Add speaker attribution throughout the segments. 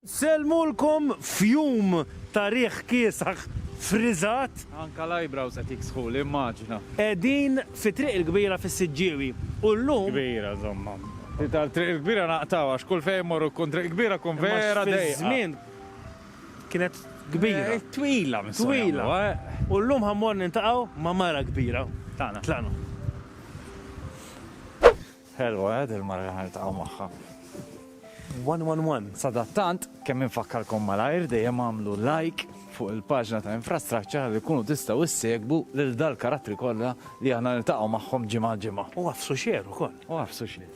Speaker 1: Sellmulkom fjum ta' riħ kiesaħ friżat. Anke l-eyebrows
Speaker 2: qed jiksħuli, immaġina. Qegħdin fi
Speaker 1: Triq il-Kbira fis-Siġġiewi u llum. Kbira, żomma.
Speaker 2: Ftit għal Triq il-Kbira naqtgħu għax kull fejn immorru tkun Triq il-Kbira tkun vera dejqa. Imma fiż-żmien
Speaker 1: kienet kbira. Twila minn sona.
Speaker 2: Twila.
Speaker 1: U llum ħa mmorru niltaqgħu ma' mara kbira. Tlaqna. Tlaqna.
Speaker 2: Ħelwa eh dil mara li ħaniltaqgħu magħha. One one one.
Speaker 1: Sadattant, kemm
Speaker 2: infakkarkom malajr dejjem għamlu like fuq il-paġna ta' infrastructure li kunu tistgħu issegbu lil dal-karattri kollha li aħna niltaqgħu magħhom ġimgħa ġimgħa. U għafsu xer
Speaker 1: ukoll. U għafsu xer.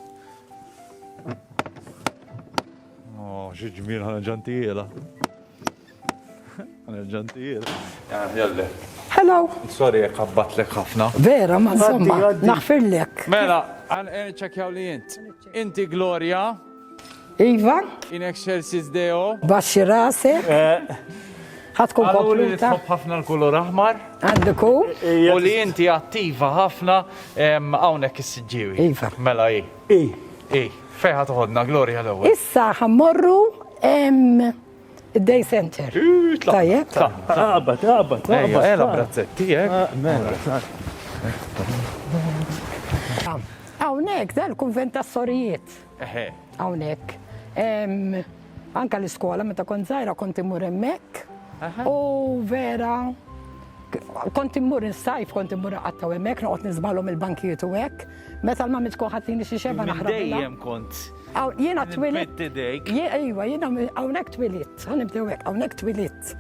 Speaker 2: Oh, xi ġmiel ħana ġantijiela. Hello.
Speaker 3: Sorry, jek
Speaker 2: għabbatlek ħafna. Vera, ma insomma,
Speaker 3: naħfirlek. Mela, għan
Speaker 2: eh, ċekjaw li jint. Inti Gloria. Iva.
Speaker 3: In excelsis
Speaker 2: Deo. Baxi rase.
Speaker 3: Eh. Ħatkun kompluta. Għallu
Speaker 2: ħafna l-kulur
Speaker 3: aħmar.
Speaker 2: Għandiku.
Speaker 3: Eh, U li jinti
Speaker 2: attiva ħafna għawnek s-sġiwi. Iva. Mela i.
Speaker 3: I.
Speaker 2: I. Fejħa toħodna, Gloria l-ewel. Issa ħammorru
Speaker 3: Id-day center. Tajjeb. Qabad, qabad,
Speaker 1: qabad. Ela
Speaker 2: brazzetti, eh? Ah, mela.
Speaker 3: Hawnhekk dan il-kunvent tas-sorijiet.
Speaker 2: Hawnhekk.
Speaker 3: Anka l-iskola meta kont żgħira kont imur hemmhekk. U vera kont immur insajf, kont immur għatta u emmek, noqot nizbalom il-bankijiet u hekk. Meta l-mamit koħatini xie xeba naħra. Dejjem kont.
Speaker 2: Jiena twilit.
Speaker 3: Iwa,
Speaker 2: jiena
Speaker 3: hawnhekk twilit. Nibdew hekk, hawnhekk twilit.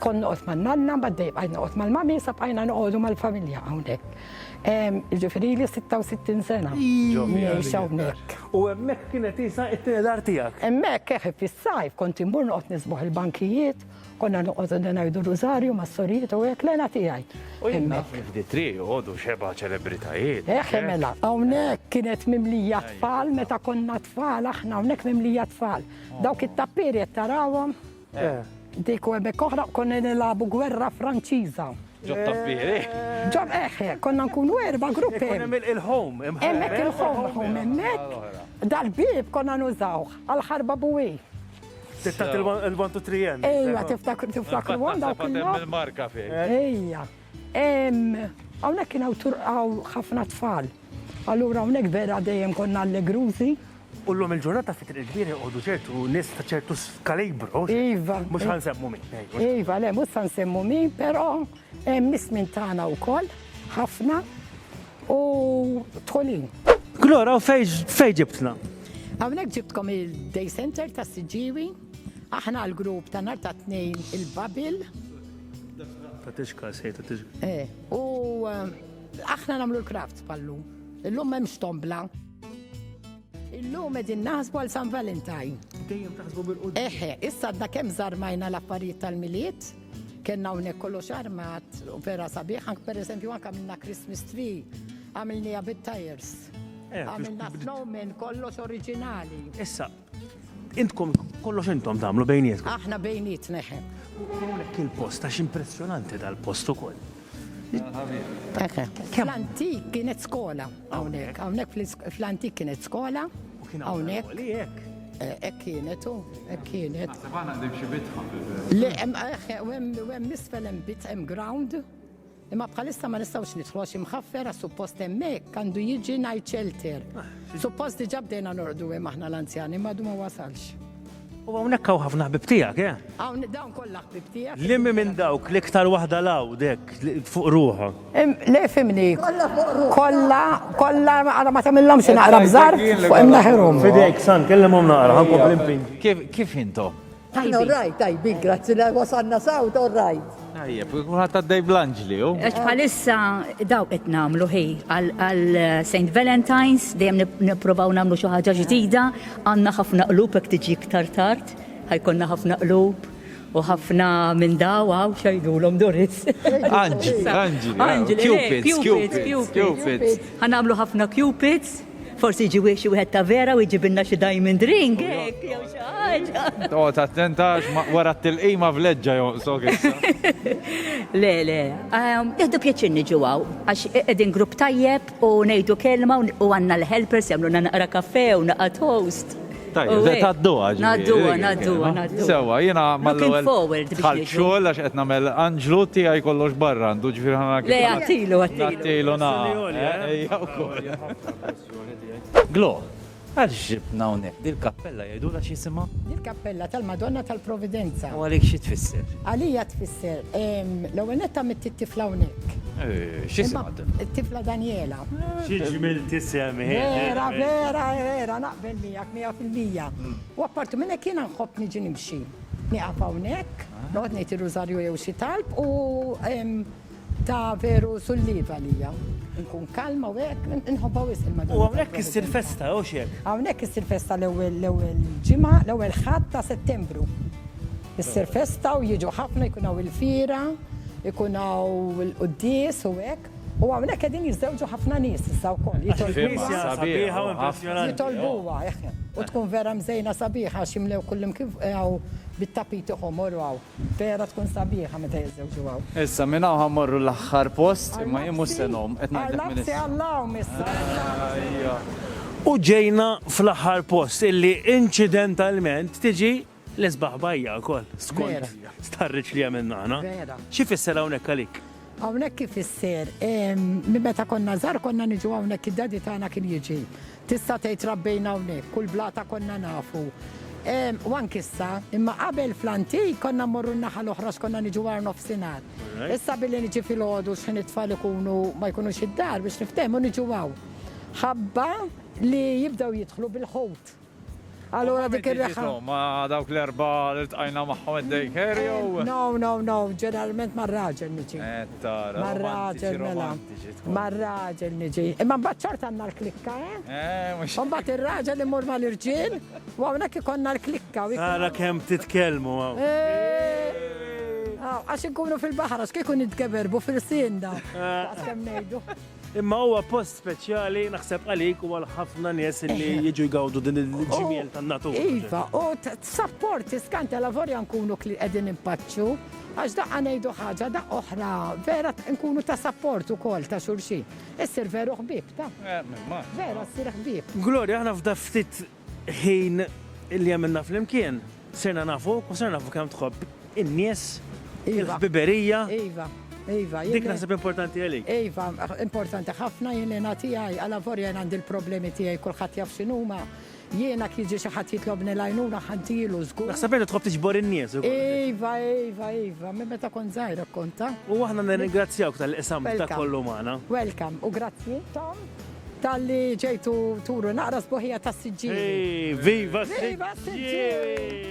Speaker 3: Kon noqgħod ma' nanna, ma' dej bqajt noqgħod mal-mami, sa bqajna noqogħdu mal-familja hawnhekk. Ġifieri li 66 sena. Ngħix hawnhekk. U hemmhekk kienet
Speaker 1: isa t-tieni dar tiegħek? Hemmhekk, eħe, fis-sajf
Speaker 3: kont immur noqgħod nisbuħ il-bankijiet Konna noqogħdu ngħidu rużarju ma' sorijiet u hekk l-għena tiegħi. U jien naf kif di
Speaker 2: tri joqogħdu xeba ċelebritajiet. Eh, eh, mela,
Speaker 3: hawnhekk kienet mimlija tfal meta konna tfal aħna hawnhekk mimlija tfal. Dawk it-tappieri qed tarawhom. Eh. Dik u hemmhekk oħra konna nilagħbu gwerra Franċiża. Ġob tappieri.
Speaker 2: Ġob eħe,
Speaker 3: konna nkunu erba' gruppi. Hemm il-home,
Speaker 1: hemmhekk il-home,
Speaker 3: hemmhekk. Dal-bib konna nużawh għal-ħarba buwi. Tittat il-1 to 3
Speaker 1: end. Ejja, tiftakru tiftakru
Speaker 3: għan dawk il-marka fej.
Speaker 2: Ejja.
Speaker 3: Hawnhekk kien hawn ħafna tfal. Allura hawnhekk vera dejjem konna allegrużi. U l-lum il-ġurnata
Speaker 1: fit triq kbir jgħodu ċertu nis ta' ċertu kalibru. Iva. Mux għan
Speaker 3: semmu min.
Speaker 1: Iva, le, mux għan
Speaker 3: semmu min, pero Hemm nies minn tagħna wkoll, ħafna u tħolin. Glora, u
Speaker 1: fejn ġibtna? Hawnhekk ġibtkom
Speaker 3: il-Day Center ta' Siġiwi, aħna l-grupp ta' nhar ta' tnejn il-Babil.
Speaker 1: Ta' tixka, sej ta' tixka. Eh, u
Speaker 3: eh, aħna nagħmlu l-crafts pallu. Illum m'hemm stombla. Illum qegħdin naħsbu għal San Valentine. Dejjem taħsbu
Speaker 1: bil-qudiem. Eħe, issa għadna
Speaker 3: kemm żarmajna l-affarijiet tal-miliet Kenna hawnhekk kollox armat u vera sabiħ, anke pereżempju anke għamilna Christmas tree, għamilniha bit-tires. Eh, għamilna snowman kollox oriġinali. Issa,
Speaker 1: intkom kollox intom tagħmlu bejnietkom. Aħna bejnietna
Speaker 3: ħem. Hawnhekk il-post
Speaker 1: għax impressjonanti dal-post ukoll. Fl-antik
Speaker 3: kienet skola hawnhekk, hawnhekk fl-antik kienet skola hawnhekk. Ek kienet, u ek kienet. Għana għandim xie bitħa.
Speaker 2: Le,
Speaker 3: għem misfel għem bit, għem ground. Imma bħalissa ma nistawx nidħlu għax imħaffera suppost hemmhekk għandu jiġi night shelter. Suppost diġà bdejna nordu hemm aħna l-anzjani ma ma wasalx. U hawnhekk
Speaker 1: hawn ħafna ħbib tiegħek, eh? Hawn dawn kollha
Speaker 3: ħbib tiegħek. Liemi minn dawk
Speaker 1: l-iktar waħda l-hawn dek fuq ruħha. Le fimni.
Speaker 3: Kollha fuq ruħha. Kollha, kollha ara ma tagħmilhom xi naqra bżar fuq imnaħirhom. Fidejk san kellimhom
Speaker 1: naqra ħan kompli Kif intom?
Speaker 2: Tajbin,
Speaker 4: tajbin, grazzi li wasanna saw, all right. Tajjeb, kulħadd
Speaker 2: għaddej blanġli u. Għax bħalissa
Speaker 5: daw qed nagħmlu ħi għal St. Valentine's dejjem nipprovaw nagħmlu xi ħaġa ġdida, għandna ħafna qlub hekk tiġi iktar tard, ħajkonna ħafna qlub u ħafna minn daw għaw xajdulhom Doris. Anġi, anġi, anġi, cupids, cupids, cupids. Ħanamlu ħafna cupids. Forsi jiġi wieħed xi wieħed ta' vera u jġibilna xi diamond ring hekk jew xi ħaġa. Toqgħod attenta
Speaker 2: għax wara t-tilqima vleġġa jonqsok issa. Le,
Speaker 5: le. Jieħdu pjaċir niġu hawn għax qegħdin grupp tajjeb u ngħidu kelma u għandna l-helpers jagħmlulna naqra kafè u naqa' toast. Tajjeb,
Speaker 2: se tgħadduha ġifieri. Ngħadduha,
Speaker 5: ngħadduha,
Speaker 2: ngħadduha. Sewwa, jiena
Speaker 5: mal-ewwel tħallt xogħol għax qed nagħmel
Speaker 2: Anġlu tiegħi kollox barra għandu ġifieri ħa nara kif. Le, agħtilu, agħtilu.
Speaker 5: Nagħtilu nagħha.
Speaker 2: Ejja wkoll. Glo, għaliex ġibtna hawnhekk? Dil-kappella jgħidulha x'jisimha? Dil-kappella tal-Madonna
Speaker 3: tal-Providenza. U għalik xi tfisser?
Speaker 2: Għalija tfisser,
Speaker 3: l-ewwel nett għamilt it-tifla hawnhekk. X'jisimha
Speaker 2: t-tifla? T-tifla
Speaker 3: Danjela. Xi ġmiel
Speaker 1: tisem hi. Vera,
Speaker 3: vera, vera. Naqbel miegħek mija fil-mija. U apparti minn hekk jiena nħobb niġi nimxi. Nieqaf hawnhekk, noqgħod ngħid ir-rużarju jew xi talb u ta' veru sulliva għalija. Inkun kalma u hekk, inħobbha wisq il-Madonna. U hawnhekk issir festa,
Speaker 1: jew x'hekk? Hawnhekk issir festa
Speaker 3: l-ewwel ġimgħa, l-ewwel Ħadd ta' Settembru. Issir festa u jiġu ħafna, jkun hawn il-fira, ikun hawn il-quddies u hekk. U hawnhekk qegħdin jiżżewġu ħafna nies issa wkoll, jitolbuha,
Speaker 1: jitolbuha,
Speaker 3: u tkun vera mżejna sabiħa għax jimlew kullimkien fuq hawn bit-tapiti ħomor u hawn, vera tkun sabiħa meta jiżżewġu hawn. Issa minn hawn ħa mmorru
Speaker 2: l-aħħar post, imma jien mhux se ngħum, qed ngħidlek minn issa. Għal hawn issa,
Speaker 3: għall-aħħar. U
Speaker 1: ġejna fl-aħħar post illi inċidentalment tiġi. L-isbaħ bajja wkoll, skont
Speaker 3: starriċ li
Speaker 1: għamilna aħna. Xi fisser
Speaker 3: hawnhekk għalik?
Speaker 1: Hawnhekk kif
Speaker 3: isser, minn meta konna żar konna niġu hawnhekk id-dadi tagħna kien jiġi. Tista' tgħid rabbejna hawnhekk, kull blata konna nafu. U anki issa, imma qabel fl-antik konna mmorru n-naħa l-oħra x'konna niġu għar nofsinhar. Issa billi niġi fil-ħodu x'ħin it-tfal ikunu ma jkunux id-dar biex niftehmu niġu hawn. Ħabba li jibdew jidħlu bil-ħut. Allura dik ir-reħħa. Ma dawk l-erba'
Speaker 2: li ltqajna magħhom id-daycare jew? No, no, no,
Speaker 3: ġeneralment mar-raġel niġi. Tara, mar-raġel
Speaker 2: mela.
Speaker 3: Mar-raġel niġi. Imma mbagħad ċort għandna l-klikka, eh?
Speaker 2: Mbagħad ir-raġel
Speaker 3: imur mal-irġiel u hawnhekk ikollna l-klikka. Tara kemm
Speaker 1: titkellmu hawn.
Speaker 3: Għax inkunu fil-baħar, għax kieku nitgeberbu fil-sinda. Għax kemm ngħidu. Imma huwa
Speaker 1: post speċjali naħseb għalik u għal ħafna nies li jiġu jgawdu din il-ġmiel tan-natura. Iva, u
Speaker 3: t-sapport iskanta la vorja nkunu li qegħdin impaċċu, għax daqqa ngħidu ħaġa da oħra, vera nkunu ta' sapport ukoll ta' xulxin. Issir veru ħbib ta'. Eh, vera ssir ħbib. Gloria, aħna f'da ftit
Speaker 1: Ħin li għamilna flimkien, sirna nafuk u sirna nafu kemm tħobb in-nies, il-ħbiberija. Iva,
Speaker 3: iva. Dik naħseb importanti
Speaker 1: għalik. Iva, importanti
Speaker 3: ħafna jien jiena tiegħi, għala vorja jien għandi l-problemi tiegħi kulħadd jaf x'inhuma. Jiena kieġi xi ħadd jitlobni l-għajnuna ħantilu żgur. Naħseb inti tħobb tiġbor
Speaker 1: in-nies. Iva, iva,
Speaker 3: iva, minn meta kont żgħira konta. U aħna nirringrazzjawk
Speaker 1: tal-qisam ta' kollu magħna. Welcome, u grazzi
Speaker 3: Tom. Talli ġejtu turu naqra sbuħija tas-siġġieri.
Speaker 1: Viva
Speaker 3: s-siġġieri!